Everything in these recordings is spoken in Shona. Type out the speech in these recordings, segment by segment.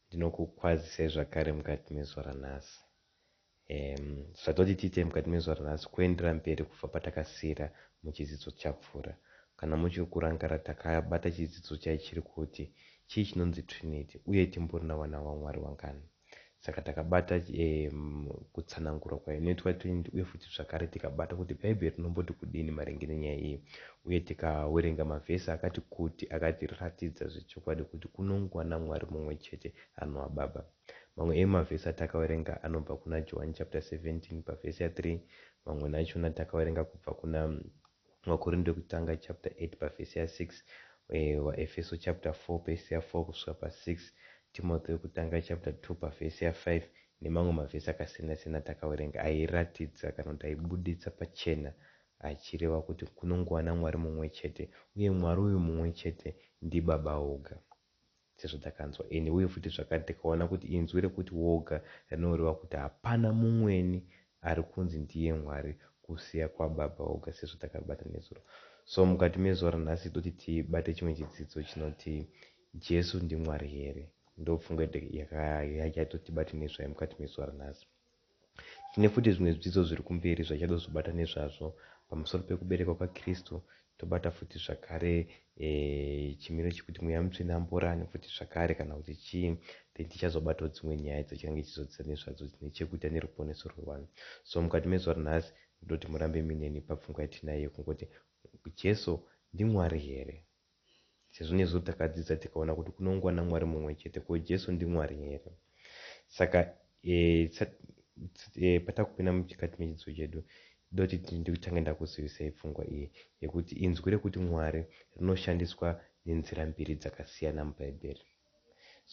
Ndinokukwazisai zvakare mukati mezuva ranhasi. Ehm, zvatoti tiitei mukati mezuva ranhasi kuendera mberi kubva patakasiira muchidzidzo chapfuura. Kana muchiri kurangara takabata chidzidzo chaichiri kuti chii chinonzi Trinity uye timborina vana vaMwari vangani. Saka takabata ehm, kutsanangurwa kwainoitwa Trinity uye futi zvakare tikabata kuti Bhaibheri rinomboti kudini maringe nenyaya iyi Uye tikawerenga mavhesi akati kuti akatiratidza zvechokwadi kuti kunongwa naMwari mumwe chete anova Baba. Mamwe emavhesi atakawerenga anobva kuna Johwani chapita 17 pavhesi ya 3, mamwe nachona takawerenga kubva kuna Vakorinde wekutanga chapita 8 pavhesi ya 6, Vaefeso chapita 4 pavhesi ya 4 kusvika pa 6, Timothy wekutanga chapita 2 pavhesi ya 5 nemamwe mavhesi akasiyana-siyana atakawerenga airatidza kana kuti aibuditsa pachena achireva kuti kunongova naMwari mumwe chete, uye Mwari uyu mumwe chete ndiBaba voga. Sezvatakanzwa ini, uye futi zvakare tikaona kuti inzwi rekuti voga rinoreva kuti hapana mumweni ari kunzi ndiye Mwari kusiya kwaBaba voga sezvatakabata nezuro. So mukati mezuva ranhasi toti tibate chimwe chidzidzo chinoti Jesu ndiMwari here? Ndopfungwa yatoti tibate nezvayo mukati mezuva ranhasi. Tine futi zvimwe zvidzidzo zviri kumberi zvatichada kuzobata nezvazvo pamusoro pekuberekwa kwaKristu tobata futi zvakare e, chimiro chekuti mweya mutsvene amborani futi zvakare kana kuti chii then tichazobatawo dzimwe nyaya idzo chingange chizodzidza nezvadzo dzine chekuita neruponeso rwevanhu so mukati mezuva ranhasi ndoti murambe mineni papfungwa yatinayo yekungoti jesu ndimwari here Sezvo nesu takadzidza tikaona kuti kunongwa naMwari mumwe chete, ko Jesu ndiMwari here? Saka e, sa, e, patakupinda muchikati mechidzidzo chedu doti nditange ndakuzivisai pfungwa iyi yekuti inzwi rekuti Mwari rinoshandiswa nenzira mbiri dzakasiyana muBhaibheri.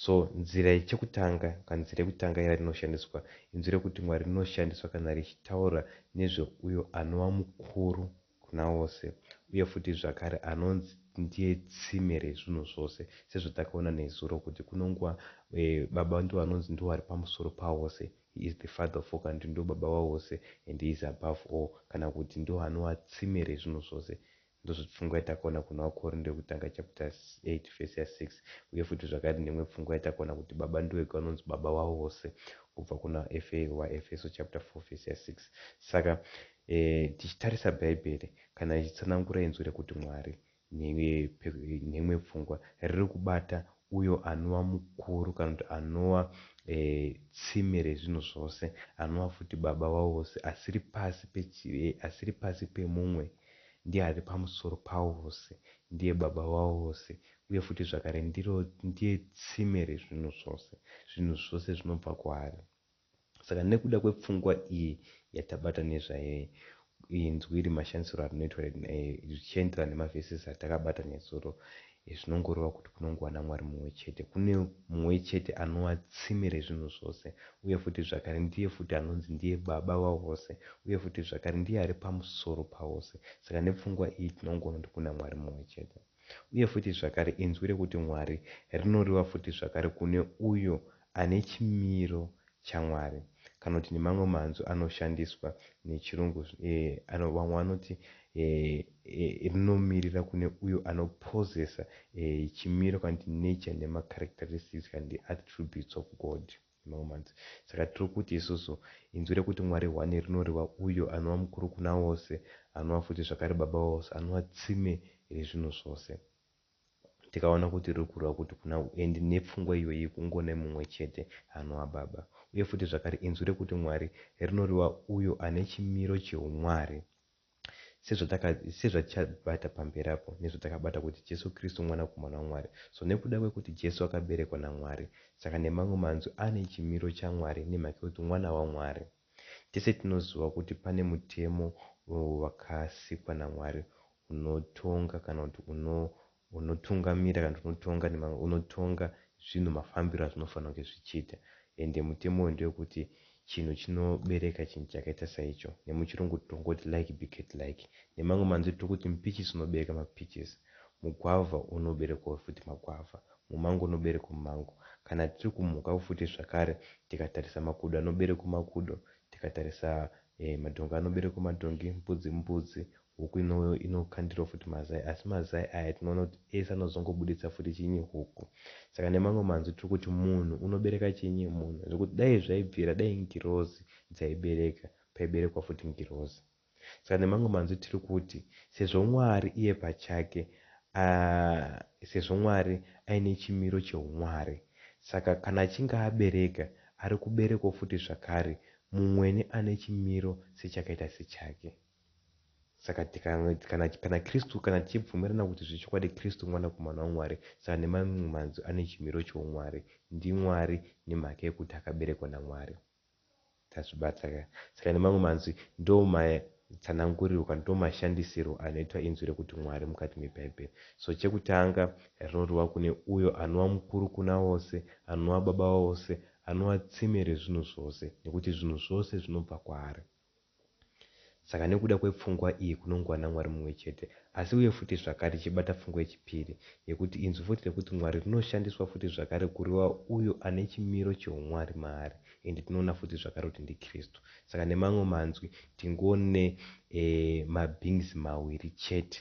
So nzira chekutanga ka nzira yekutanga yarinoshandiswa inzwi rekuti Mwari rinoshandiswa kana richitaura nezve uyo anova mukuru kuna vose uye futi zvakare anonzi ndiye tsime rezvinhu zvose sezvatakaona nezuro kuti kunonguva e, baba ndivo vanonzi ndivo vari pamusoro pavose he is the father of all kana kuti ndivo baba vavose and he is above all kana kuti ndivo anova tsime rezvinhu zvose Ndozvoti pfungwa yatakaona kuna Vakorinde yokutanga chapter 8 verse ya 6 uye futi zvakare neimwe pfungwa yatakaona kuti Baba ndivo vega vanonzi Baba vavo vose kubva kuna Efe vaEfeso chapter 4 verse ya 6 saka e, tichitarisa Bhaibheri kana ichitsanangura inzwi rekuti Mwari neimwe pfungwa riri kubata uyo anova mukuru kana kuti anova e, tsime rezvinhu zvose anova futi Baba vavo vose asiri pasi, pechi, e, asiri pasi pemumwe Ndiye ari pamusoro pawo vose, ndiye Baba vawo vose, uye futi zvakare ndiro, ndiye tsime rezvinhu zvose, zvinhu zvose zvinobva kwaari. Saka nekuda kwepfungwa iyi yatabata nezvayo iyi, inzwi iri mashandisirwo arinoitwa richienderana nemavhesisi atakabata nezuro, Izvi zvinongoreva kuti kunongova naMwari mumwe chete, kune Mumwe chete anova tsime rezvinhu zvose, uye futi zvakare ndiye futi anonzi ndiye Baba vavose, uye futi zvakare ndiye ari pamusoro pavose. Saka nepfungwa iyi tinongoona kuti kuna Mwari mumwe chete. Uye futi zvakare inzwi rekuti Mwari rinoreva futi zvakare kune uyo ane chimiro chaMwari kana kuti nemamwe manzwi anoshandiswa nechiRungu vamwe vanoti rinomirira kune uyo anopossessa chimiro kana kuti nature nemacharacteristics kana kuti attributes of God nemamwe manzwi. Saka tiri kuti isusu inzwi rekuti Mwari hwani rinoreva uyo anova mukuru kuna vose, anova futi zvakare Baba vavose, anova tsime rezvinhu zvose. Tikaona kuti riri kureva kuti kuna u and nepfungwa iyoyi yekungo nemumwe chete anoa Baba. Uye futi zvakare inzwi rekuti Mwari rinoreva uyo ane chimiro cheumwari. Sezvataka sezvatichabata pamberi apo nezvatakabata kuti Jesu Kristu Mwanakomana waMwari. So nekuda kwekuti Jesu akaberekwa naMwari saka nemamwe manzwi ane chimiro chaMwari nemhaka yekuti mwana waMwari. Tese tinoziva kuti pane mutemo wakasikwa naMwari unotonga kana kuti uno, unotungamira kana kuti unotonga nemamwe, unotonga zvinhu mafambiro azvinofanira kunge zvichiita. Ende mutemo uyu ndewekuti chinhu chinobereka chinhu chakaita saicho. NemuChirungu tongoti like beget like. Nemamwe manzwi tiri kuti mpichisi unobereka mapichisi. Mugwavha unoberekwawo futi magwavha, mumango unoberekwa mumango. Kana tiri kumhukawo futi zvakare, tikatarisa makudo anoberekwa makudo, tikatarisa madhongi anoberekwa madhongi, mbudzi imbudzi, huku inokandirwa futi mazai. Asi mazai aya tinoona kuti ese anozongobuditsa futi chinyi? Huku. Saka nemamwe manzwi tiri kuti munhu unobereka chinyi? Munhu. Zvekuti dai zvaibvira dai ngirozi dzaibereka, paiberekwa futi ngirozi. Saka nemamwe manzwi tiri kuti sezvo Mwari iye pachake a, sezvo Mwari aine chimiro cheumwari, saka kana achinge abereka, ari kuberekawo futi zvakare mumwene ane chimiro sechakaita sechake. Saka tika, kana, kana Kristu, kana tichibvumirana kuti zvechokwadi Kristu Mwanakomana waMwari, saka nemamwe manzwi ane chimiro cheumwari, ndiMwari nemhaka yekuti akaberekwa naMwari. Tazvibata ka. Saka nemamwe manzwi ndomatsanangurirwa ndomashandisirwo anoitwa inzwi rekuti Mwari mukati meBhaibheri. So chekutanga rinodiwa kune uyo anova mukuru kuna vose, anova baba wavose, anova tsime rezvinhu zvose nekuti zvinhu zvose zvinobva kwaari. Saka nekuda kwepfungwa iyi kunongova naMwari mumwe chete, asi uye futi zvakare tichibata pfungwa yechipiri, yekuti inzwi futi rekuti Mwari rinoshandiswa futi zvakare kureva uyo ane chimiro chehuMwari maari, ende tinoona futi zvakare kuti ndiKristu. Saka nemamwe manzwi tingone e mabeings mawiri chete,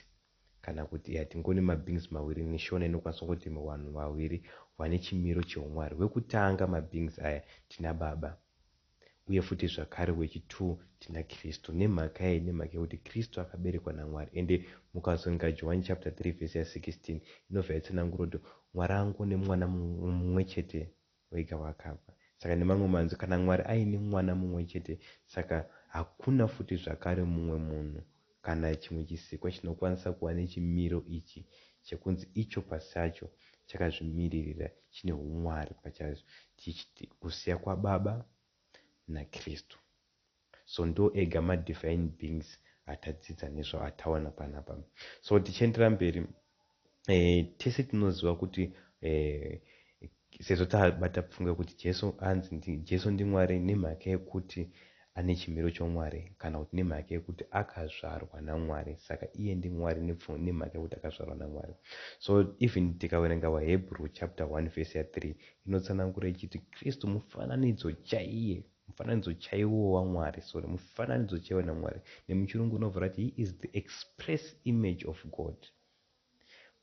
kana kuti ya tingone mabeings mawiri, in Shona inokwanisa kungoti vanhu vawiri vane chimiro chehuMwari. Wekutanga mabeings aya tina Baba. Uye futi zvakare wechi two tina Kristu. Nemhaka yei? Nemhaka yekuti Kristu akaberekwa naMwari. Ende mukazoenga Johwani chapter 3 verse ya 16 inobva yatsanangura kuti Mwari angone mwana mumwechete wega wakafa. Saka nemamwe manzwi kana Mwari aine mwana mumwechete saka hakuna futi zvakare mumwe munhu Kana chimwe chisikwa chinokwanisa kuva nechimiro ichi chekunzi icho pasacho chakazvimiririra chine humwari pachacho chichiti kusiya kwaBaba naKristu. So ndiwo ega madivine beings atadzidza nezvawo ataona panapa. So tichiendera mberi. Eh, tese tinoziva kuti eh, sezvo tabata pfungwa yekuti jesu anzi ndi, jesu ndimwari nemhaka yekuti ane chimiro chomwari kana kuti nemhaka yekuti akazvarwa namwari saka iye ndimwari nemhaka yekuti akazvarwa namwari so even tikaverenga vahebrew chapter 1 vhesi ya 3 inotsanangura ichiti kristu mufananidzo chaiye mufananidzo chaiwo wamwari sorry mufananidzo chaiwo namwari nemuchirungu unovhura kuti he is the express image of god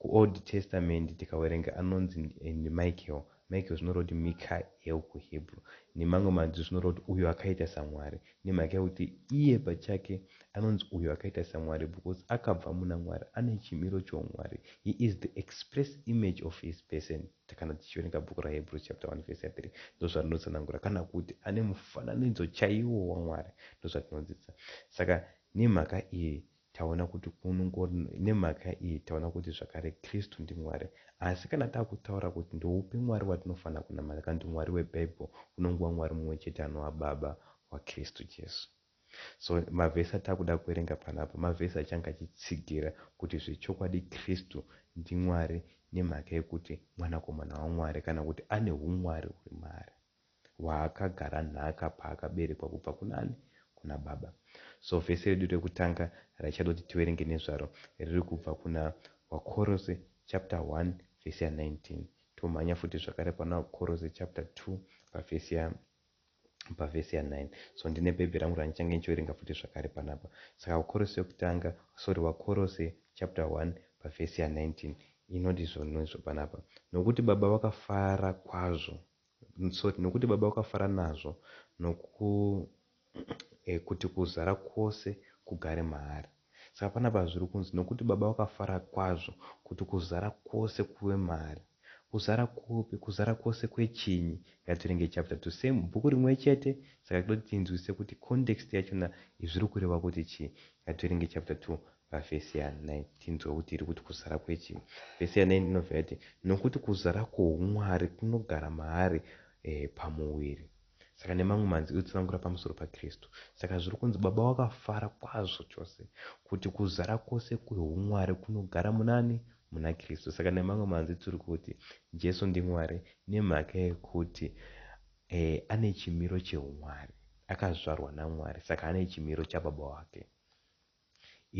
KuOld Testament tikawerenga anonzi ndiMichael, Michael zvinoreva kuti Mikael kuHebrew. Nemamwe mazwi zvinoreva kuti uyo akaita saMwari nemhaka yekuti iye pachake anonzi uyo akaita saMwari because akabva muna Mwari, ane chimiro choumwari. He is the express image of his person kana tichiverenga bhuku raHebrews chapter 1 verse 3 ndozvarinotsanangura kana kuti ane mufananidzo chaiwo waMwari ndozvatinodzidza. Saka nemhaka iyi Taona kuti kunongori nemhaka iyi taona kuti zvakare Kristu ndiMwari. Asi kana takutaura kuti ndoupi Mwari watinofanira kunamata kana kuti Mwari weBible kunongova Mwari mumwe chete anova Baba waKristu Jesu. So mavhesi atakuda kuverenga panapa mavhesi achange achitsigira kuti zvechokwadi Kristu ndiMwari nemhaka yekuti Mwanakomana waMwari kana kuti ane huMwari huri maari. waakagara nhaka paakaberekwa kubva kunani? Kuna baba. So vhesi redu rekutanga raichada kuti tiverenge nezvaro riri kubva kuna Wakorose chapter 1 vhesi ya 19 tomhanya futi zvakare pana Wakorose chapter 2 pavhesi ya pavhesi ya 9 so ndine bhebhi rangu randichange ndichiverenga futi zvakare panapa saka Wakorose yokutanga sorry Wakorose chapter 1 pavhesi ya 19 inoti zvonizvo panapa nokuti baba vakafara kwazvo Sorry, nokuti Baba vakafara nazvo, noku, eh, kuti kuzara kwose kugare maari. Saka panapa zviri kunzi, nokuti Baba vakafara kwazvo kuti kuzara kwose kuve maari. Kuzara kupi? Kuzara kwose kwechinyi? Ngatirenge chapter to same, bhuku rimwe chete, saka toti tinzwisise kuti context yachona zviri kureva kuti chii. Ngativerenge chapter to pavhesi ya9 tinzwe kuti iri kuti kuzara kwechii vhesi ya9 inobva yati nokuti kuzara kwoumwari kunogara maari e, pamuviri saka nemamwe manzi iri kutsanangura pamusoro pakristu saka zviri kunzi baba wakafara kwazvo chose kuti kuzara kwose kweumwari kunogara munani muna kristu saka nemamwe manzi tiri kuti jesu ndimwari nemhaka yekuti e, ane chimiro cheumwari akazvarwa namwari saka ane chimiro chababa wake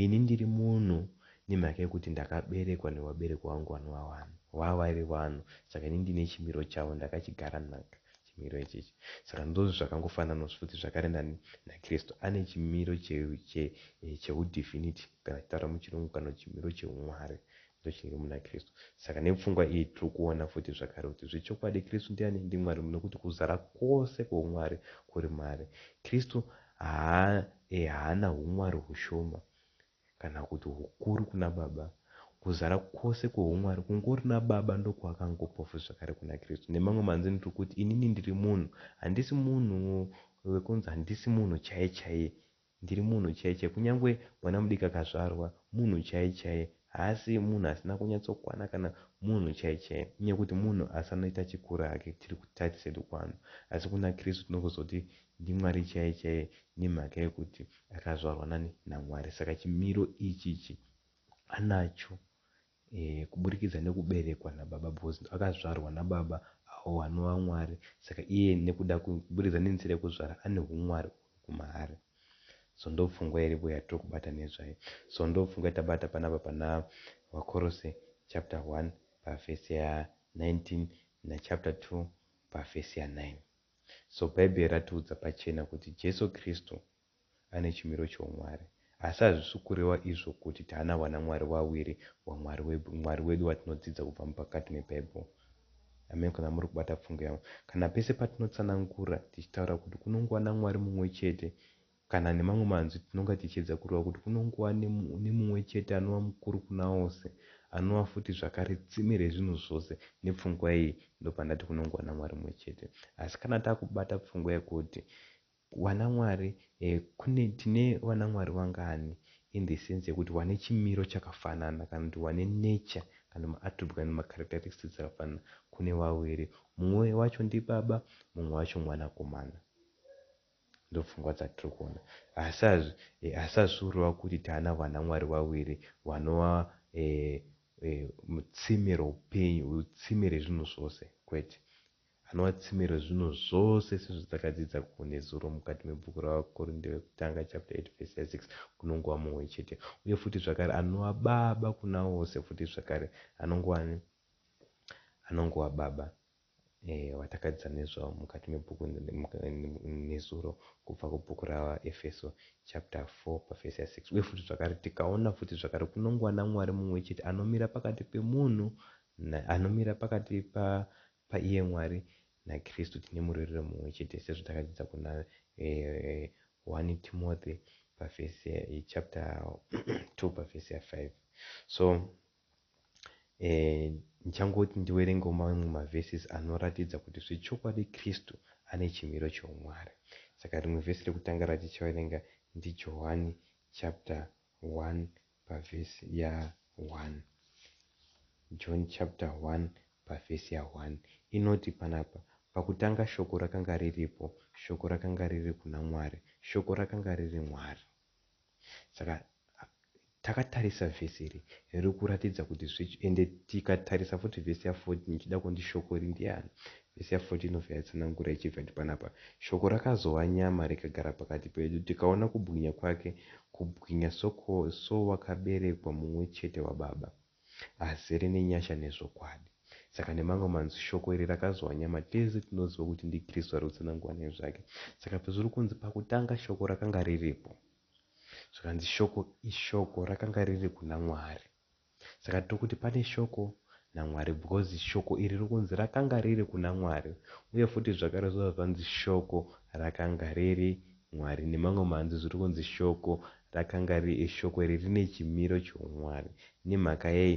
Ini ndiri munhu nemhaka yekuti ndakaberekwa nevabereki vangu vanova vanhu. Vava vaive vanhu saka ini ndine chimiro chavo ndakachigara naka chimiro ichichi. Saka ndozve zvakangofananawo futi zvakare nani naKristu. Ane chimiro che, che, chehudivinity kana tichitaura muchirungu kana kuti chimiro chehuMwari. Ndochinge muna Kristu. Saka nepfungwa iyi tiri kuona futi zvakare kuti zvechokwadi Kristu ndiani? NdiMwari nokuti kuzara kwose kwoumwari kuri maari. Kristu haana humwari hushoma kana kuti hukuru kuna Baba. Kuzara kwose kwoumwari kungori naBaba ndokwakangopa futi zvakare kuna Kristu. Nemamwe manzwini tiri kuti inini ndiri munhu, handisi munhu wekunzi handisi munhu chaiye chaiye Ndiri munhu chaiye chaiye kunyangwe mwana mudiki akazvarwa munhu chaiye chaiye haasi munhu asina kunyatsokwana kana munhu chaiye chaiye kunyangwe kuti munhu asanoita achikura hake tiri kutight sedu kwano asi kuna Kristu tinogozoti ndiMwari chaiye chaiye nemhaka yekuti akazvarwa nani naMwari saka chimiro ichichi anacho Ehe, kuburikidza nekuberekwa nababa because akazvarwa nababa awo anova Mwari saka iye nekuda kuburikidza nenzira yekuzvara ane humwari uhwu kumaari. So ndopfungwa iripo yatiri kubata nezvayo. So ndopfungwa yatabata panapa pana Vakorose chapter 1 pavhesi ya 19 nachapter 2 pavhesi ya 9. So Bhaibheri ratiudza pachena kuti Jesu Kristu ane chimiro choumwari. Asi hazvisi kureva izvo kuti taana vanamwari vaviri, waMwari wedu, Mwari wedu watinodzidza kubva mupakati meBhaibheri. Ameni kana muri kubata pfungwa yangu. Kana pese patinotsanangura tichitaura kuti kunongova naMwari mumwe chete, kana nemamwe manzwi tinonga tichiedza kureva kuti kunongova nemumwe chete anova mukuru kuna ose, anova futi zvakare tsime rezvinhu zvose. Nepfungwa iyi, ndopandati kunongova naMwari mumwe chete. Asi kana takubata pfungwa yekuti Wanamwari kune tine wanamwari wangani in the sense yekuti wane chimiro chakafanana kana kuti wane nature kana ma attribute kana ma characteristics dzakafanana kune wawiri mumwe wacho ndibaba mumwe wacho mwanakomana ndopfungwa dzatiri kuona hasazvi eh, hasazviurova kuti taana wanamwari wawiri wanova eh, eh, mutsime roupenyu tsime rezvinhu zvose kwete Anowatsimira zvinhu zvose sezvatakadzidza ko nezuro mukati mebhuku raVaKorinde Vekutanga chapter 8 verse ya 6 kunongova mumwe chete. Uye futi zvakare anova Baba kuna vose futi zvakare. Anongova ani? Anongova Baba eh, vatakadzidza nezvavo mukati mebhuku nezuro kubva kubhuku raVaEfeso chapter 4 pavhesi ya 6. Uye futi zvakare tikaona futi zvakare kunongova naMwari mumwe chete anomira pakati pemunhu na, anomira pakati pa Paiye Mwari naKristu tine murerero mumwe chete sezvo takadzidza kuna 1 Timothy pavhesi chapter 2 pavhesi ya 5 so eh, ndichangoti ndiwerengewo mamwe mavhesis anoratidza kuti zvechokwadi kristu ane chimiro cheumwari saka rimwe vhesi rekutanga ratichaverenga ndijohwani chapter 1 pavhesi ya 1. John chapter 1 pavhesi ya 1 inoti panapa, Pakutanga Shoko rakanga riripo, Shoko rakanga riri kuna Mwari, Shoko rakanga riri Mwari. Saka takatarisa vhesi iri riri kuratidza kuti zve, ende tikatarisa futi vhesi ya 14 ichida kundi Shoko iri ndiani? Isaya 14 of yatsanangura ichiverti panapa, Shoko rakazova nyama rikagara pakati pedu, tikaona kubwinya kwake, kubwinya soko, sowakaberekwa mumwe chete waBaba, azere nenyasha nezvokwadi. Saka nemamwe manzwi, Shoko iri rakazova nyama, tese tinoziva kuti ndiKristu ari kutsanangura nezvake. Saka pezviri kunzi, Pakutanga Shoko rakanga riripo, zvikanzi Shoko iShoko, rakanga riri kuna Mwari. Saka tiri kuti pane shoko naMwari because shoko iri riri kunzi rakanga riri kuna Mwari uye futi zvakare zvobva zvanzi shoko rakanga riri Mwari. Nemamwe manzwi zviri kunzi shoko rakanga riri shoko iri rine chimiro choumwari. Nemhaka yei?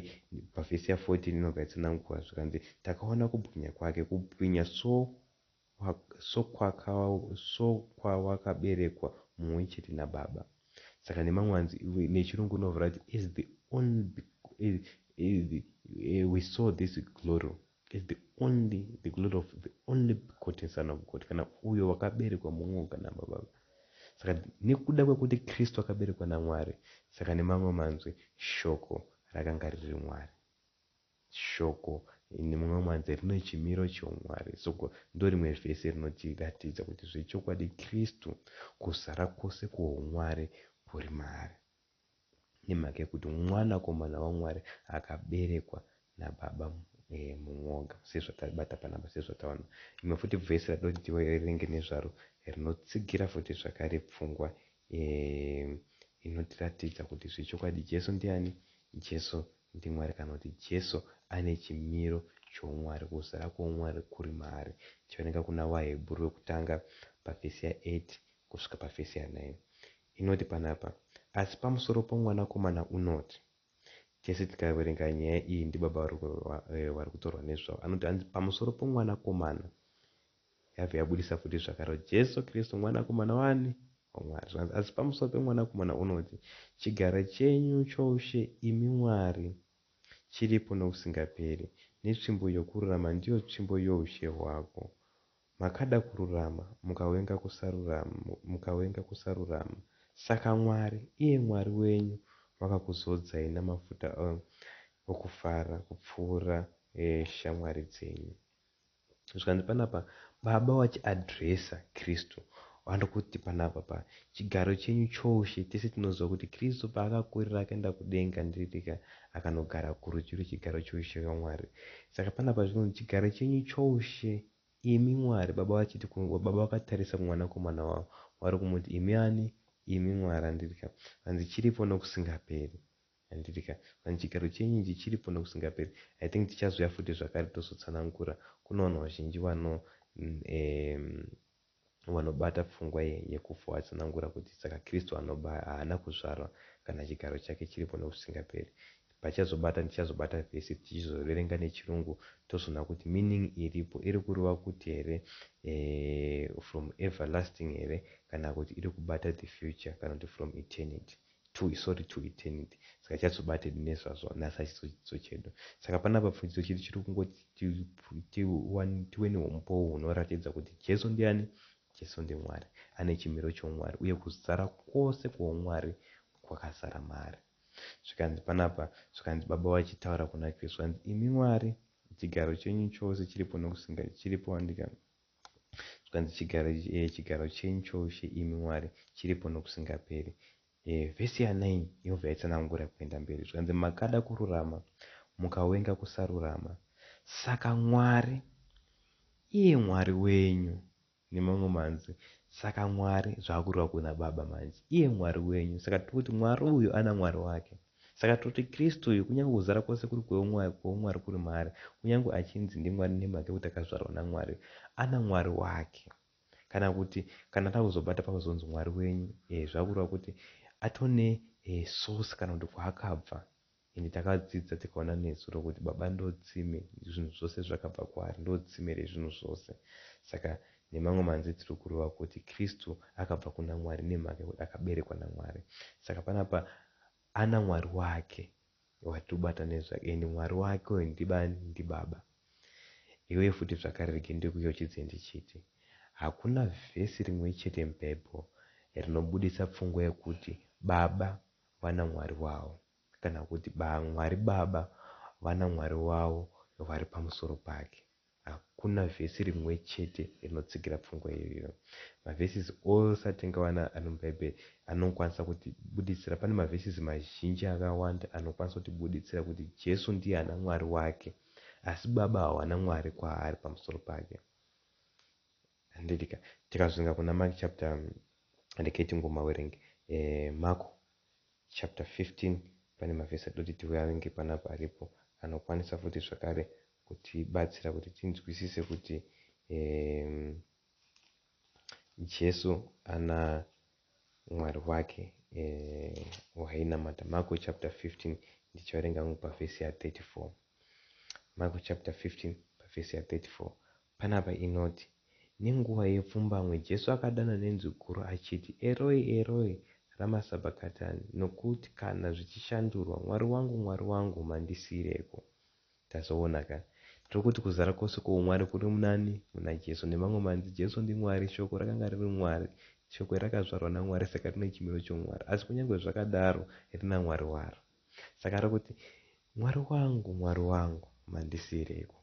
Pavhesi ya 14 inobva yatsanangurwa zvikanzi, Takaona kubwinya kwake, kubwinya so so kwawakaberekwa mumwe chete nababa saka nemamwe anzi nechirungu unovhura kuti is the only we saw this glory is the only the glory of the only begotten son of god kana uyo wakaberekwa mumwe oga nababa saka nekuda kwekuti kristu akaberekwa namwari saka nemamwe manzwi shoko rakanga riri mwari Shoko in mumwe mwanzi rine chimiro choumwari. Soko ndorimwe vhesi rinotiratidza kuti zvechokwadi Kristu kuzara kwose kwoumwari huri maari. Nemhaka yokuti Mwanakomana waMwari akaberekwa naBaba mumwoga, sezvatabata panapa, sezvataona. Rimwe futi vhesi ratinoda kuti tiverenge nezvaro rinotsigira futi zvakare pfungwa inotiratidza kuti zvechokwadi Jesu ndiani? Jesu NdiMwari kana kuti Jesu ane chimiro choumwari, kuzara kwoumwari kuri maari. Tichioneka kuna vaHebhuru vekutanga pavhesi ya 8 kusvika pavhesi ya 9. Inoti panapa, Asi pamusoro poMwanakomana unoti. Tese tikaverenga nyaya iyi ndibaba vari kutorwa nezvavo. Anoti, Hanzi pamusoro poMwanakomana Yabva yabudisa futi zvakare, Jesu Kristu Mwanakomana waani? WaMwari. Zvikanzi, Asi pamusoro peMwanakomana unoti, Chigaro chenyu choushe, imi Mwari, chiripo nokusingaperi, netsvimbo yokururama ndiyo tsvimbo youshe hwako. Makada kururama, mukavenga kusarurama, mukavenga kusarurama. Saka Mwari, iye Mwari wenyu, vakakuzodzai namafuta okufara kupfuura shamwari dzenyu. zvikanzi panapa Baba wachiadresa Kristu vandokuti panapa pa chigaro chenyu choushe tese tinoziva kuti Kristu paakakurira akaenda kudenga ndiririka akanogara kurudyi rwechigaro choushe rwaMwari saka panapa zvinonzi chigaro chenyu choushe imi Mwari Baba vachiti Baba vakatarisa kumwanakomana wavo vari kumuti imi ani imi Mwari andirika vanzi chiripo nokusingaperi Handiti ka manje chigaro chenyu ichi chiripo nokusingaperi I think tichazouya futi zvakare tozotsanangura kune vanhu vazhinji vano ehm vanobata pfungwa ye yekufa vatsanangura kuti saka Kristu anoba haana kuzvarwa kana chigaro chake chiripo nokusingaperi pachazobata tichazobata vhesi tichizoverenga nechirungu tozoona kuti meaning iripo iri kureva kuti here eeh from everlasting here kana kuti iri kubata the future kana kuti from eternity to sorry to eternity saka chazobated nezvazvo nhasi achizochidzidzo chedu saka panapa pfudzidzo chedu chiri kungoti tive neumbowo hunoratidza kuti jesu ndiani jesu ndimwari ane chimiro choumwari uye kuzara kwose kwoumwari kwakazara maari zvikanzi panapa zvikanzi baba vachitaura kuna kristu vanzi imi mwari chigaro chenyu chose chiripo nokusinga chiripo andika Zvikanzi, Chigaro, e, chigaro chenyu choushe, imi Mwari, chiripo nokusingaperi. E, vhesi yanaini Yehova yaitsanangura kuenda mberi. Zvikanzi, Makada kururama, mukawenga kusarurama. Saka Mwari, iye Mwari wenyu, nemamwe manzwi, saka Mwari, zvaakureva kuna Baba manje, iye Mwari wenyu, saka tiri kuti Mwari uyu ana Mwari wake. Saka toti Kristu uyu, kunyange kuzara kwose kuri kweumwari, kweumwari kuri maari, kunyange achinzi ndiMwari nemhaka yekuti akazvarwa naMwari, ana Mwari wake. Kana kuti, kana takuzobata pakuzonzi Mwari wenyu, ehe, zvakureva kuti atone source kana kuti kwaakabva. Ende takadzidza tikaona nezuro kuti Baba ndotsime, zvinhu zvose zvakabva kwaari, ndotsime rezvinhu zvose. Saka nemamwe manzwi tiri kureva kuti Kristu akabva kuna Mwari nemhaka yekuti akaberekwa naMwari. Saka panapa Ana Mwari wake watibata nezvake and Mwari wake uyo ndibani ndibaba iwe futi zvakare rege ndikuyeuchidze ndichiti hakuna vhesi rimwe chete mubible rinobuditsa pfungwa yekuti baba vana Mwari wavo kana kuti ba Mwari baba vana Mwari wavo vari pamusoro pake Hakuna vhesi rimwe chete rinotsigira pfungwa iyoyo. Mavhesisi ose atingawana ari muBhaibheri anokwanisa kutibuditsira. Pane mavhesisi mazhinji akawanda anokwanisa kutibuditsira kuti Jesu ndiye ana Mwari wake, asi Baba hawana Mwari kwaari pamusoro pake. Handirika. Tikazunga kuna Mark chapter, regai tingomawerenga. Eh, Mark chapter 15 pane mavhesi atoti tiverenge panapa aripo anokwanisa futi zvakare kutibatsira kuti tinzwisise kuti um, Jesu ana Mwari wake um, wainamata. Marko chapter 15 ndichaverenga ngu pavhesi ya 34. Marko chapter 15 pavhesi ya 34 panapa inoti nenguva yepfumbamwe Jesu akadana nenzwi guru achiti, Eroi, Eroi, rama sabhakatani, nokuti kana zvichishandurwa, Mwari wangu, Mwari wangu, mandisiireko. Tazoona ka. Tiri kuti kuzara kose kwoumwari kuri munaani? Muna Jesu. Nemamwe manzi, Jesu ndiMwari. Shoko rakanga riri Mwari. Shoko iri rakazvarwa naMwari saka rine chimiro choumwari. Asi kunyange zvakadaro rina Mwari waro. Saka ari kuti, Mwari wangu, Mwari wangu, mandisiireiko?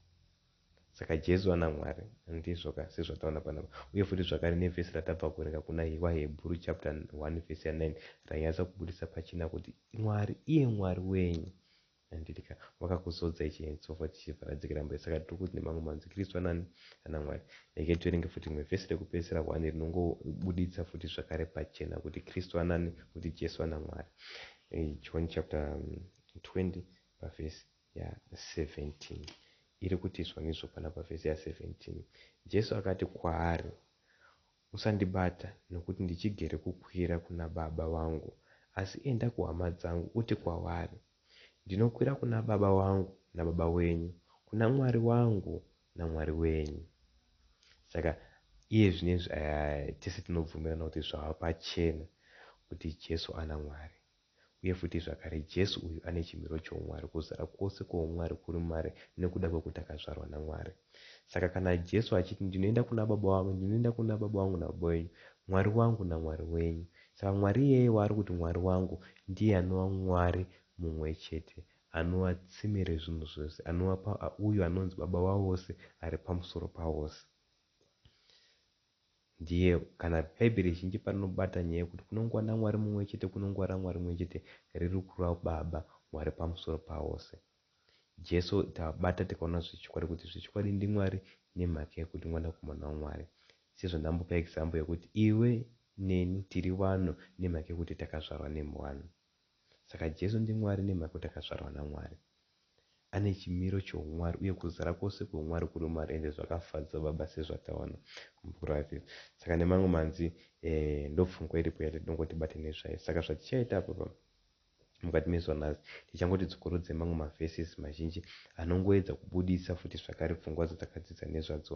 Saka Jesu ana Mwari. Ndizvo ka, sezvataona panapa. Uye futi zvakare nevhesi ratabva kuverenga kuna vaHebhuru chapter 1 vhesi ya 9 rainyatsa kubudisa pachena kuti Mwari, iye Mwari wenyu, Handiti ka vakakuzodza ichi and so forth tichibva radzikira mberi saka tiri kuti nemamwe manzwikiriswa anani ana Mwari. Regai tiverenge futi rimwe vhesi rekupedzisira one rinongobuditsa futi zvakare pachena kuti Kristu anani kuti Jesu ana Mwari. John chapter 20 pavhesi ya 17 iri kuti izvonizvo pana pavhesi ya 17 Jesu akati kwaari Usandibata nokuti ndichigere kukwira kuna baba vangu, asi enda kuhama dzangu uti kwavari, Ndinokwira kuna Baba vangu naBaba wenyu, kuna Mwari wangu naMwari wenyu. Saka iye zvinezvi tese tinobvumirana kuti zvava pachena kuti Jesu ana Mwari. Uye futi zvakare, Jesu uyu ane chimiro choumwari, kuzara kwose kwoumwari kuri maari nokuda kwokuti akazvarwa naMwari. Saka kana Jesu achiti, Ndinoenda kuna Baba vangu, ndinoenda kuna Baba vangu naBaba venyu, Mwari wangu naMwari wenyu, saka Mwari iyeye waari kuti Mwari wangu ndiye anova Mwari mumwe chete anova tsime rezvinhu zvose, anova pa, uyo anonzi Baba wavose, ari pamusoro pavose. Ndiye kana bhaibheri zhinji parinobata nyaya yekuti kunongova naMwari mumwe chete kunongova raMwari mumwe chete riri kura Baba Mwari pamusoro pavose. Jesu tabata tikaona zvechokwadi kuti zvechokwadi ndiMwari nemhaka yekuti mwanakomana waMwari. Sezvo ndambopa example yekuti iwe neni tiri vanhu nemhaka yekuti takazvarwa nemwana. Saka Jesu ndiMwari nemhaka yekuti akazvarwa naMwari. Ane chimiro choumwari uye kuzara kwose kweumwari kuri mumari ende zvakafadza Baba sezvataona mubhuku raEfeso. Saka nemamwe manzwi ndopfungwa iripo yatinongo tibate nezvayo. Saka zvatichaita apa mukati mezuva nhasi tichangoti dzokorodze mamwe maverses mazhinji anongoedza kubudisa futi zvakare pfungwa dzatakadzidza nezvadzo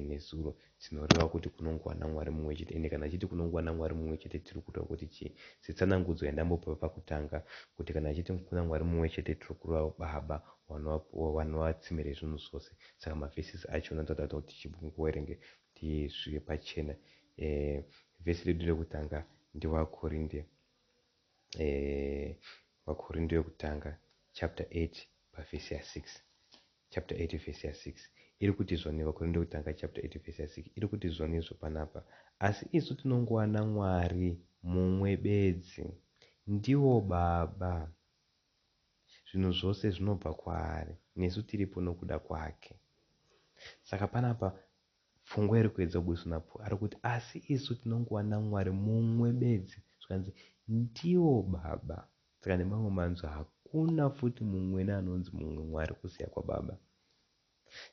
nezuro. Chinoreva kuti kunongova naMwari mumwe chete. Ende kana achiti kunongova naMwari mumwe chete tiri kureva kuti chii? Setsanangudzo yandambopa pakutanga, kuti kana achiti kuna Mwari mumwe chete tiri kureva Baba vanova vanova tsime rezvinhu zvose. Saka maverses acho anotoda kuti tichimboerenge kuti zvive pachena. Eh, verse redu rekutanga ndiVaKorinde eh, VaKorinde vekutanga chapter 8 paverse ya 6. chapter 8 verse ya 6 iri kuti zvoni vakorinde wekutanga chapter 8 verse ya 6 iri kuti zvoni izvo panapa asi isu tinongowana mwari mumwe bedzi ndiwo baba zvinhu zvose zvinobva kwaari nesu tiripo nokuda kwake saka panapa pfungwa iri kuedza kubudiswa napo ari kuti asi isu tinongowana mwari mumwe bedzi zvikanzi ndiwo baba Saka nemamwe manzwi hakuna futi mumwene anonzi mumwe Mwari kusiya kwaBaba.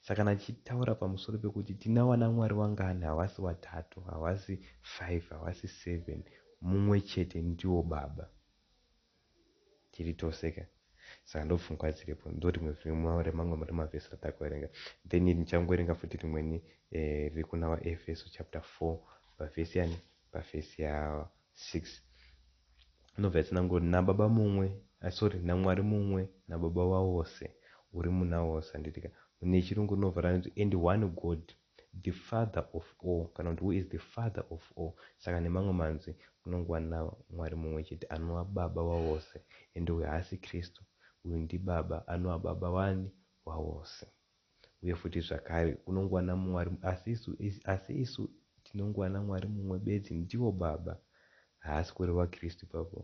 Saka kana tichitaura pamusoro pekuti tina wanaMwari wangani havasi watatu, havasi five, havasi seven, mumwe chete ndiwo Baba. Tiri tose ka? Saka ndopfungwa dziripo. Ndorimwe rimwe remamwe remavhesi ratakuverenga. Then ndichangoverenga futi rimweni eh, riri kuna vaEfeso chapter four pavhesi yani, pavhesi ya 6 inobva yatsanangura naBaba mumwe, ah sorry naMwari mumwe naBaba wavose uri muna vose handitika nechiRungu rinobva ranzi and one God the Father of all kana kuti who is the Father of all saka nemamwe manzwi kunongova naMwari mumwe chete anova Baba wavose and uyu haasi Kristu uyu ndiBaba anova Baba wani wavose. Uye futi zvakare, unongowana mumwe ari, asi isu, asi isu tinongowana Mwari mumwe bedzi, ndivo Baba. Haasi kureva Kristu ipapo,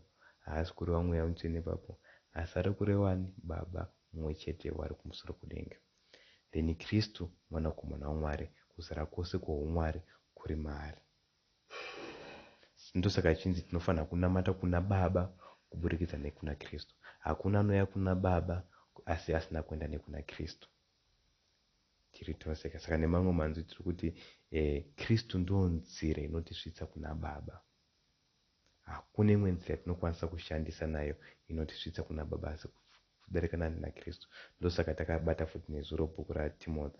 haasi kureva Mweya Mutsvene ipapo, asi ari kureva ani? Baba mumwe chete vari kumusoro kudenga. Then Kristu, Mwanakomana waMwari, kuzara kwose kwoHumwari kuri maari. Ndosaka tichinzi tinofanira kunamata kuna Baba kuburikidza nekuna Kristu. Hakuna anouya kuna Baba asi asina kuenda nekuna Kristu. Tiri tose ka. Saka nemamwe manzwi tiri kuti eh, Kristu ndiyo nzira inotisvitsa kuna Baba. Hakuna imwe nzira yatinokwanisa kushandisa nayo inotisvitsa kuna Baba asi kudarika nani naKristu. Ndosaka takabata futi nezuro bhuku raTimothy.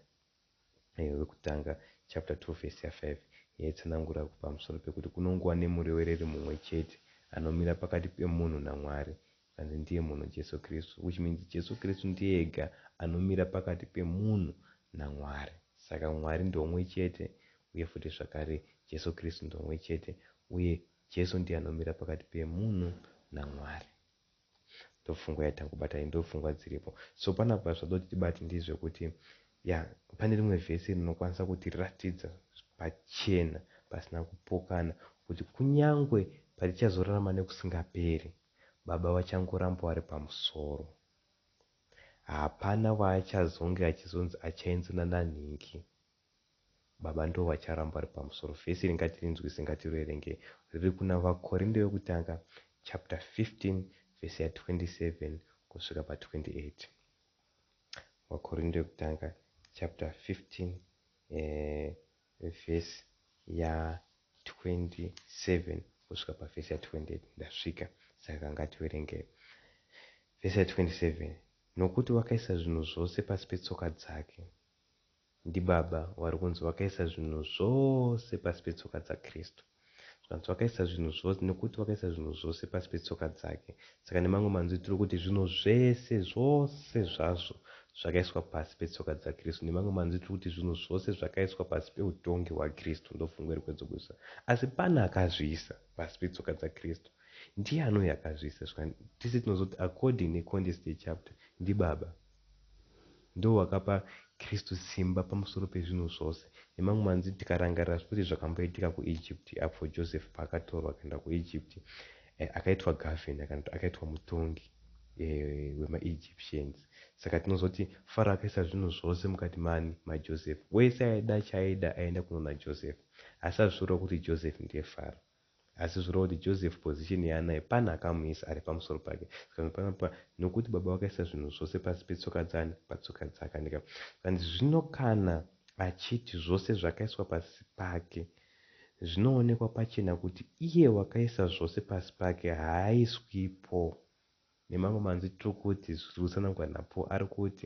Murayiro wekutanga chapter 2 verse ya 5 yaitsanangura pamusoro pekuti kunongova nemurevereri mumwe chete anomira pakati pemunhu naMwari zvikanzi ndiye munhu Jesu Kristu which means Jesu Kristu ndiye ega anomira pakati pemunhu naMwari saka Mwari ndomwe chete uye futi zvakare Jesu Kristu ndomwe chete uye Jesu ndiye anomira pakati pemunhu naMwari. ndopfungwa yatangobata iyi ndopfungwa dziripo so panapa zvoda kuti tibate ndizvekuti ya pane rimwe vhesi rinokwanisa kutiratidza pachena pasina kupokana kuti kunyangwe patichazorarama nekusingaperi baba vachangoramba vari pamusoro hapana waachazonge achizonzi achainzina nanhingi Baba ndivo vacharamba vari pamusoro. Vhesi iri ngatirinzwisise, ngatiroerenge. Riri kuna Vakorinde Vekutanga chapter 15 vhesi ya 27 kusvika pa 28. Vakorinde Vekutanga chapter 15 eh, vhesi ya 27 kusvika pa vhesi ya 28. Ndasvika, saka ngativerengei. Vhesi ya 27 nokuti wakaisa zvinhu zvose pasi petsoka dzake Ndibaba wari kunzi wakaisa zvinhu zvose pasi petsoka dzaKristu. Zvikanzi wakaisa zvinhu zvose nekuti wakaisa zvinhu zvose pasi petsoka dzake. Saka nemamwe manzwi tiri kuti zvinhu zvese, zvose zvazvo zvakaiswa pasi petsoka dzaKristu. Nemamwe manzwi tiri kuti zvinhu zvose zvakaiswa pasi peutongi hwaKristu. Ndopfungwa iri kwedzokudzosa. Asi pane akazviisa pasi petsoka dzaKristu. Ndiani uyu akazviisa? Zvika, tese tinozoti according necontext yechapter, ndibaba. Ndiwo wakapa Kristu simba pamusoro pezvinhu zvose. Nemamwe manzwi, tikarangarira zvose zvakamboitika kuEgypt apo Joseph paakatorwa akaenda kuEgypt, akaitwa governor kana kuti akaitwa mutongi wemaEgyptians. Saka tinozoti Faro akaisa zvinhu zvose mukati maani? MaJoseph. Wese aida chaaida aienda kunoona Joseph. Asi hazvisvori kuti Joseph ndiye Faro. Asi zvoreva kuti Joseph position yaanayo pane akamuisa ari pamusoro pake. Saka nepanapa nokuti baba vakaisa zvinhu zvose pasi petsoka dzaani? Patsoka dzake handika? Saka ndizvo zvino kana achiti zvose zvakaiswa pasi pake zvinoonekwa pachena kuti iye wakaisa zvose pasi pake haaiswipo Nemamwe manzwi tiri kuti zviri kutsanangurwa naPaul ari kuti,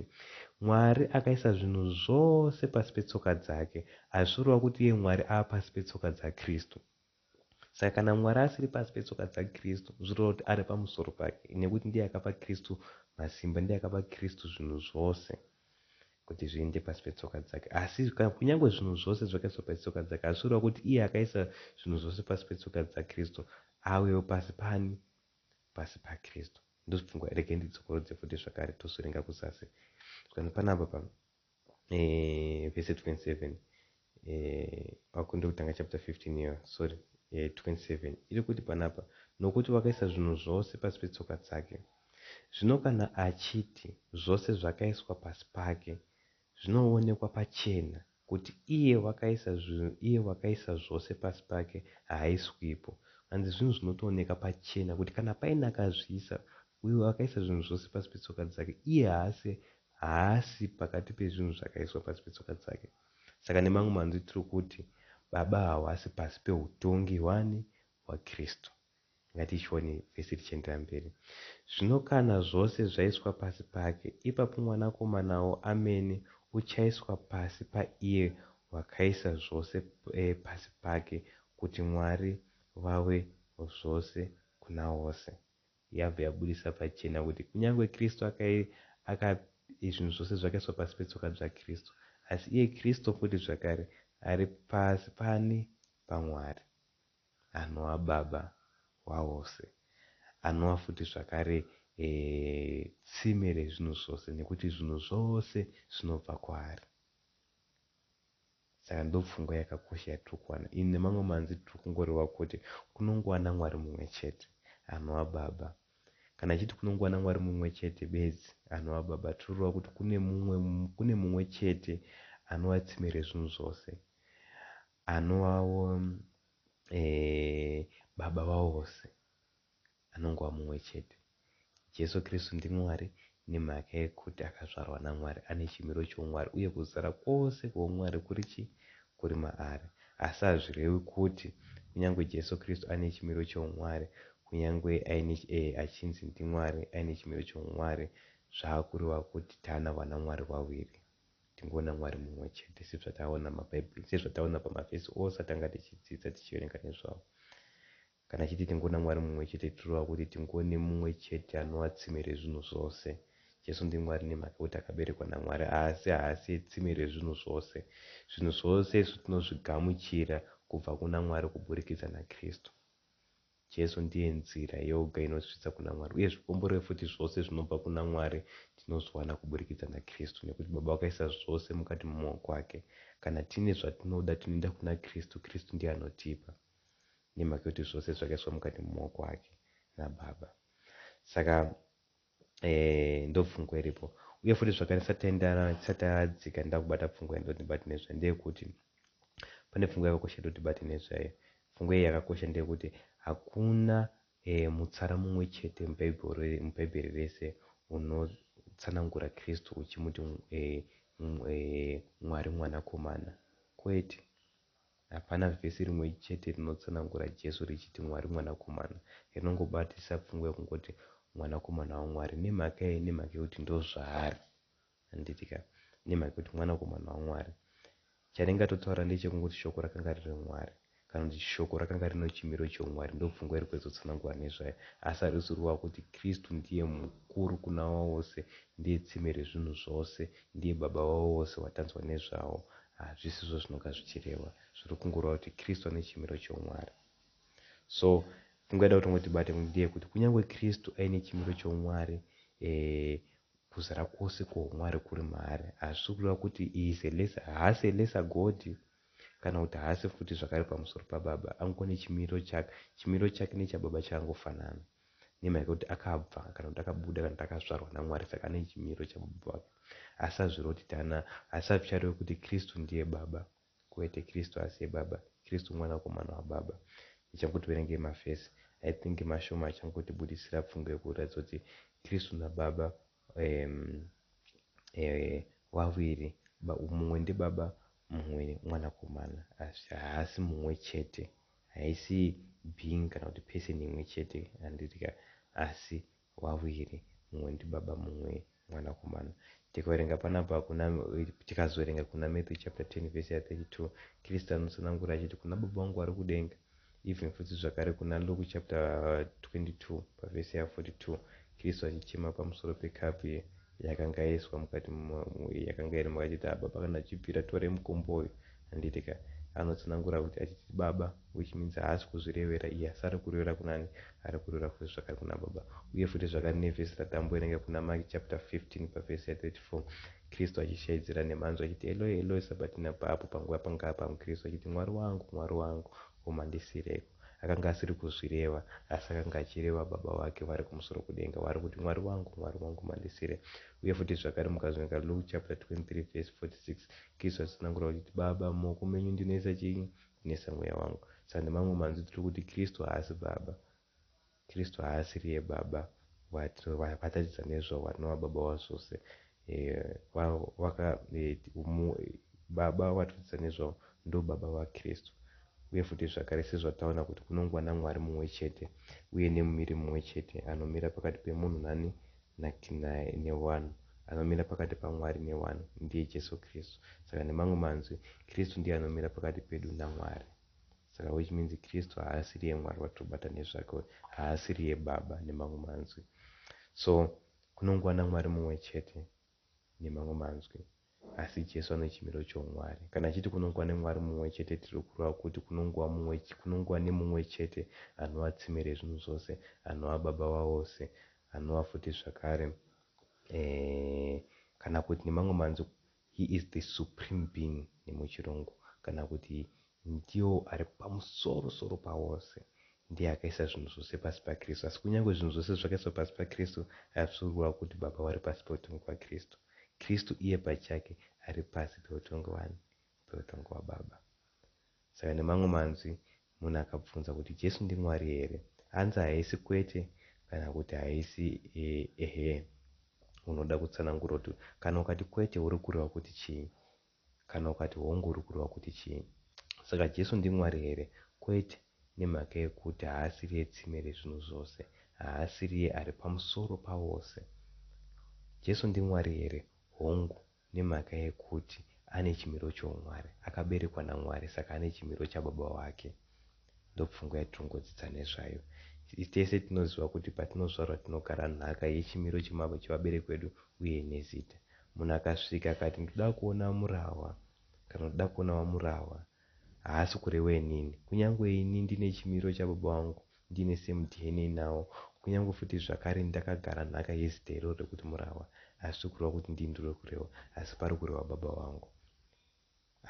Mwari akaisa zvinhu zvose pasi petsoka dzake, hazvisi kureva kuti iye Mwari ava pasi petsoka dzaKristu. Saka kana Mwari asiri pasi petsoka dzaKristu, zviri kureva kuti ari pamusoro pake, nekuti ndiye akapa Kristu masimba, ndiye akapa Kristu zvinhu zvose kuti zviende pasi petsoka dzake. Asi kunyange zvinhu zvose zvakaiswa pasi petsoka dzake, hazvisi kureva kuti iye akaisa zvinhu zvose pasi petsoka dzaKristu avewo pasi paani? pasi paKristu. Ndozvipfungwa regai ndidzokorodze futi zvakare tozvirenga kuzasi zvikanzi panapa pa eh, vese 27 eh, wakunde kutanga chapter 15 iyo sorry eh, 27 iri kuti panapa nokuti wakaisa zvinhu zvose pasi petsoka dzake zvino kana achiti zvose zvakaiswa pasi pake Zvinoonekwa pachena kuti iye wakaisa zvinhu iye wakaisa zvose pasi pake haaiswipo. Hanzi zvinhu zvinotooneka pachena kuti kana paine akazviisa uyo wakaisa zvinhu zvose pasi petsoka dzake iye haasi haasi pakati pezvinhu zvakaiswa pasi petsoka dzake. Saka nemamwe manzwi tiri kuti baba hawasi pasi pehutongi hwaani? HwaKristu. Ngatichione vese tichienderera mberi. Zvino kana zvose zvaiswa pasi pake, ipapo Mwanakomanawo amene uchaiswa pasi paiye wakaisa zvose pasi pake, kuti Mwari vave zvose kuna vose. Yabva yabudisa pachena kuti kunyange Kristu akai, aka, zvinhu zvose zvakaiswa pasi petsoka dzaKristu, asi iye Kristu futi zvakare ari pasi paani? PaMwari. Anoa baba waose. Anoa futi zvakare tsime rezvinhu zvose nekuti zvinhu zvose zvinobva kwaari. Saka ndopfungwa yakakosha yatiri kuwana iyi. Nemamwe manzwi tiri kungoreva kuti kunongova naMwari mumwe chete, anoa baba. Kana achiti kunongova naMwari mumwe chete bedzi, anoa baba, tiri kureva kuti kune mumwe, kune mumwe chete anoa tsime rezvinhu zvose. Anu wavo eeh baba vavo vose anongova mumwe chete. Jesu Kristu ndiMwari nemhaka yekuti akazvarwa naMwari. Ane chimiro choumwari uye kuzara kwose kweumwari kuri chii? Kuri maari. Asi hazvirewi kuti kunyange Jesu Kristu ane chimiro choumwari, kunyange aine eeh achinzi ndiMwari aine chimiro choumwari zvava kureva kuti tana vana Mwari vaviri. Tingoona Mwari mumwe chete sezvataona mabhaibheri, sezvataona pamavhesi ose atanga tichidzidza tichiverenga nezvawo. Kana chete tingoona Mwari mumwe chete tichireva kuti tingoone mumwe chete anova tsime rezvinhu zvose. Jesu ndiMwari nemhaka yekuti akaberekwa naMwari asi haasiye tsime rezvinhu zvose. Zvinhu zvose izvi tinozvigamuchira kubva kuna Mwari kuburikidza naKristu. Jesu ndiye nzira yoga inotisvitsa kuna Mwari, uye zvikomborero futi zvose zvinobva kuna Mwari tinozviwana kuburikidza naKristu, nekuti Baba vakaisa zvose mukati memaoko ake. Kana tine zvatinoda tinoenda kuna Kristu, Kristu ndiye anotipa, nemhaka yokuti zvose zvakaiswa mukati memaoko ake naBaba. Saka eh, ndopfungwa iripo uye futi zvakare satadzika nda kubata pfungwa yandotibati nezvayo ndeyekuti pane pfungwa yakakosha yatotibati nezvayo pfungwa iyi yakakosha ndeyekuti hakuna eh, mutsara mumwe chete mubhaibheri rese unotsanangura kristu uchimuti eh, eh, mwari mwanakomana kwete Hapana vhesi rimwe chete rinotsanangura Jesu richiti Mwari Mwanakomana. Rinongobatisa pfungwa yokungoti Mwanakomana waMwari. Nemhaka yei? Nemhaka yokuti ndozvaari. Handiti ka? Nemhaka yokuti Mwanakomana waMwari. Charingatotaura ndechekungoti Shoko rakanga riri Mwari, kana kuti Shoko rakanga rino chimiro choumwari. Ndopfungwa iri kuedzotsanangura nezvayo. Asi harisi ruva kuti Kristu ndiye mukuru kuna avo vose, ndiye tsime rezvinhu zvose, Ndiye Baba wavo vose watanzwa nezvawo. Hazvisizvo zvinonga zvichirehwa. Zviri kungoreva kuti Kristu ane chimiro choumwari. So, pfungwa yada kuti tongo tibate kuti ndeyekuti kunyangwe Kristu aine chimiro choumwari, eh, kuzara kwose kwohumwari kuri maari, hazvisi kureva kuti he is a lesser, haasi a lesser God, kana kuti haasi futi zvakare pamusoro paBaba. Angone chimiro chake. Chimiro chake nechaBaba chakangofanana. Nema yekuti akabva kana kuti akabuda kana kuti akazvarwa naMwari saka ane chimiro chababa vake asi azviroti tana asi azvicharewe kuti Kristu ndiye baba kwete Kristu asiye baba Kristu mwanakomana wababa Ndichangoti verengei mavhesi I think mashoma achangoti budisira pfungwa yekuratidza kuti Kristu nababa um, eh, vaviri ba, mumwe ndibaba mumwe mwanakomana asi haasi mumwe chete Haisi being kana kuti person imwe chete yandiri ka asi waviri mumwe ndibaba mumwe mwanakomana. Tikawerenga panapa hakuna tikazowerenga kuna Matthew chapter 10 verse ya 32 Kristu anotsanangura achiti kuna baba vangu vari kudenga even futi zvakare kuna Luke chapter 22 paverse ya 42 Kristu achichema pamusoro pekapu ye yakanga yaiswa mukati yakanga iri mukati achiti baba kana achibvira torai mukombo uyu handiti ka anotsanangura kuti achiti baba which means haasi kuzvirevera iye asi ari kurevera kunani ari kurevera futi zvakare kuna baba uye futi zvakare nevhesi ratambo rinenge kuna Maki chapter 15 pavhesi ya 34 Kristu achishaidzira nemhanzwa achiti Eloi Eloi sabatina paapo panguva pangaa pamwe Kristu achiti Mwari wangu Mwari wangu Huma ndisireiko? Akanga asiri kuzvireva asi akanga achireva Baba vake vari kumusoro kudenga waari kuti, Mwari wangu, Mwari wangu, mandisire. Uye futi zvakare mukazoverenga Luke chaputera 23 vhesi 46, Kristu atsanangura kuti, Baba, mumaoko menyu ndinoisa chii? Ndinoisa mweya wangu. Saka nemamwe manzwi tiri kuti Kristu haasi Baba. Kristu haasiriye Baba vaTaridza nezvo vanova Baba wazvose vaka Baba vaTaridza nezvo ndo Baba vaKristu uye futi zvakare sezvataona kuti kunongwa naMwari mumwe chete uye nemumiri mumwe chete anomira pakati pemunhu nani newanhu anomira pakati paMwari newanhu ndiye Jesu Kristu saka nemamwe manzwi Kristu ndiye anomira pakati pedu naMwari. Saka which means Kristu haasiriye Mwari vatobata nezvake haasiriye Baba nemamwe manzwi so kunongova naMwari mumwe chete nemamwe manzwi asi Jesu anochimiro choumwari kana achiti kunongova neMwari mumwe chete tiri kureva kuti kunongova mumwe kunongova nemumwe chete anova tsime rezvinhu zvose anova Baba vavose anova futi zvakare eh, kana kuti nemamwe manzwi He is the supreme being nemuchirungu kana kuti ndiwo ari pamusoro soro pawose. Ndiye akaisa zvinhu zvose pasi paKristu. Asi kunyangwe zvinhu zvose zvakaiswa pasi paKristu hazvisi kureva kuti Baba vari pasi peutongi hwaKristu. Kristu iye pachake ari pasi peutongi hwani? Peutongi hwaBaba. Saka nemamwe manzwi, munhu akabvunza kuti Jesu ndiMwari here? Hanzi haisi kwete kana kuti haisi ehe. Unoda kutsanangura kuti kana ukati kwete uri kureva kuti chii? Kana ukati hongu uri kureva kuti chii? Saka Jesu ndiMwari here? Kwete, nemhaka yekuti haasiriye tsime rezvinhu zvose. Haasiriye ari pamusoro pavose. Jesu ndiMwari here? Hongu, Nemhaka yekuti ane chimiro choumwari, akaberekwa naMwari saka ane chimiro chababa wake. Ndopfungwa yatinongodzidza nezvayo. Tese tinoziva kuti patinozvarwa tinogara nhaka yechimiro chevabereki vedu uye nezita. Munhu akasvika akati ndoda kuona Murahwa kana kuti ndoda kuona VaMurahwa, haasi kureva inini. Kunyangwe ini ndine chimiro chababa vangu ndiine same dna nawo kunyangwe futi zvakare ndakagara nhaka yezita iroro rekuti Murahwa hazvisi kureva kuti ndini ndiri kureva asi pari kureva baba vangu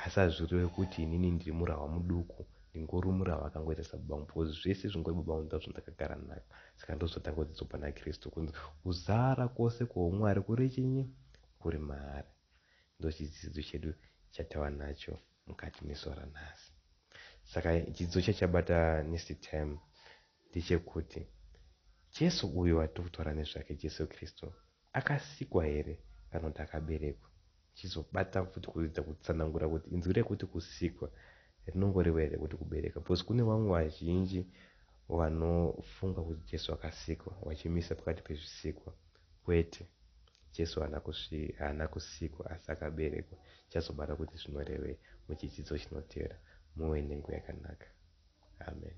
asi hazvisi kureva kuti inini ndiri Murahwa muduku ndingori Murahwa akangoita sababa vangu because zvese zvingori baba vangu ndizvo zvandakagara nhaka saka ndozvatanga kudzidzwa pana Kristu kunzi kuzara kwose kwoumwari kuri chinyi kuri maari ndochidzidzo chedu chatava nacho mukati mezuva ranhasi. Saka chidzidzo chachabata next time ndechekuti Jesu uyu watiri kutaura nezvake, Jesu Kristu, akasikwa here kana kuti akaberekwa? Tichizobata futi kuedza kutsanangura kuti inzwi rekuti kusikwa rinongoreva here kuti kubereka, because kune vamwe vazhinji vanofunga kuti Jesu akasikwa vachimisa pakati pezvisikwa. Kwete. Jesu haana kusvi, haana kusikwa, asi akaberekwa. Tichazobata kuti zvinorevei muchidzidzo chinotevera. Muve nenguva yakanaka. Amen.